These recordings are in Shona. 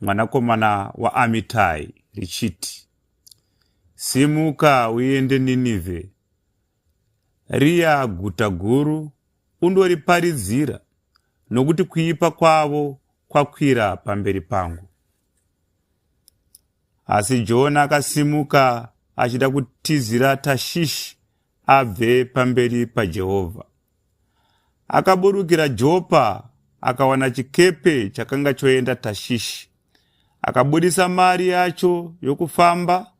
mwanakomana waAmitai, richiti, Simuka uende Ninivhe, riya guta guru, undoriparidzira, nokuti kuipa kwavo kwakwira pamberi pangu. Asi Jona akasimuka achida kutizira Tashishi abve pamberi paJehovha. Akaburukira Jopa akawana chikepe chakanga choenda Tashishi. Akabudisa mari yacho yokufamba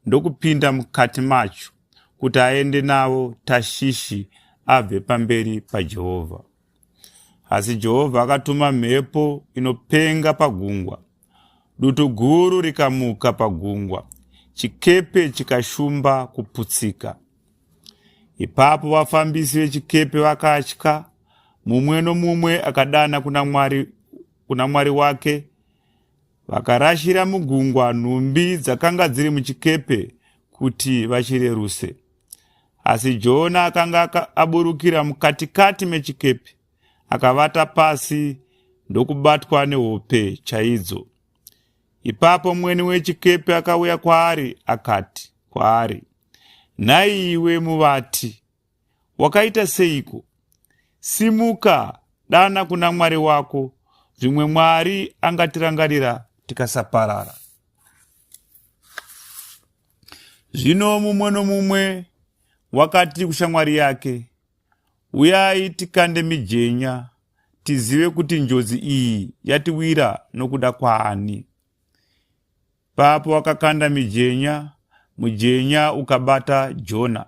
ndokupinda mukati macho kuti aende navo Tashishi abve pamberi paJehovha. Asi Jehovha akatuma mhepo inopenga pagungwa Dutu guru rikamuka pagungwa, chikepe chikashumba kuputsika. Ipapo vafambisi vechikepe vakatya, mumwe nomumwe akadana kuna Mwari, kuna Mwari wake. Vakarashira mugungwa nhumbi dzakanga dziri muchikepe kuti vachireruse. Asi Jona akanga aburukira mukatikati mechikepe akavata pasi ndokubatwa nehope chaidzo. Ipapo mweni wechikepe akauya kwaari akati kwaari, nhai iwe muvati, wakaita seiko? Simuka, dana kuna Mwari wako, zvimwe Mwari angatirangarira tikasaparara. Zvino mumwe nomumwe wakati kushamwari yake, Uyai tikande mijenya tizive kuti njodzi iyi yatiwira nokuda kwaani. Papo wakakanda mijenya, mujenya ukabata Jona.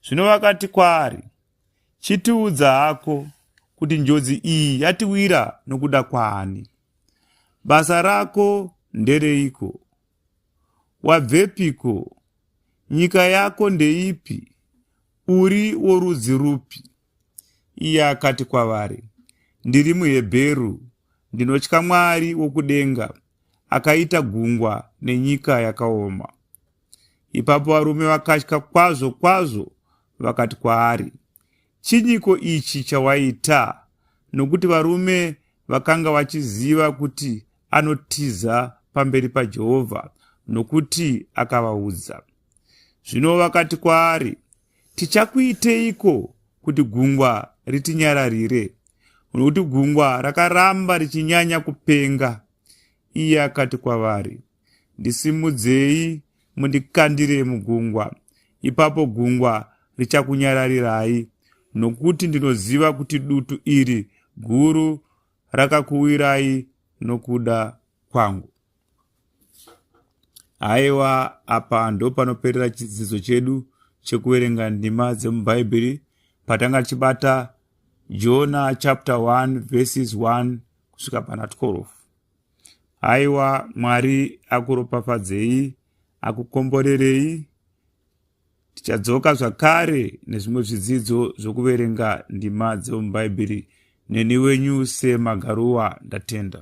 Zvino vakati kwaari, Chitiudza hako kuti njodzi iyi yatiwira nokuda kwaani. Basa rako ndereiko? Wabvepiko Nyika yako ndeipi? Uri worudzi rupi? Iye akati kwavari, Ndiri muHebheru, ndinotya Mwari wokudenga, akaita gungwa nenyika yakaoma. Ipapo varume vakatya kwazvo kwazvo vakati kwaari, Chinyiko ichi chawaita? Nokuti varume vakanga vachiziva kuti anotiza pamberi paJehovha, nokuti akavaudza. Zvino vakati kwaari, Tichakuiteiko kuti gungwa ritinyararire? Nokuti gungwa rakaramba richinyanya kupenga. Iye akati kwavari, Ndisimudzei mundikandire mugungwa, ipapo gungwa richakunyararirai, nokuti ndinoziva kuti dutu iri guru rakakuwirai nokuda kwangu. Haiwa, apa ndopanoperera chidzidzo chedu chekuverenga ndima dzemubhaibheri patanga tichibata jona chapter 1 verses 1 kusvika pana 12 aiwa mwari akuropafadzei akukomborerei tichadzoka zvakare nezvimwe zvidzidzo zvokuverenga ndima dzemubhaibheri neni wenyu semagaruwa ndatenda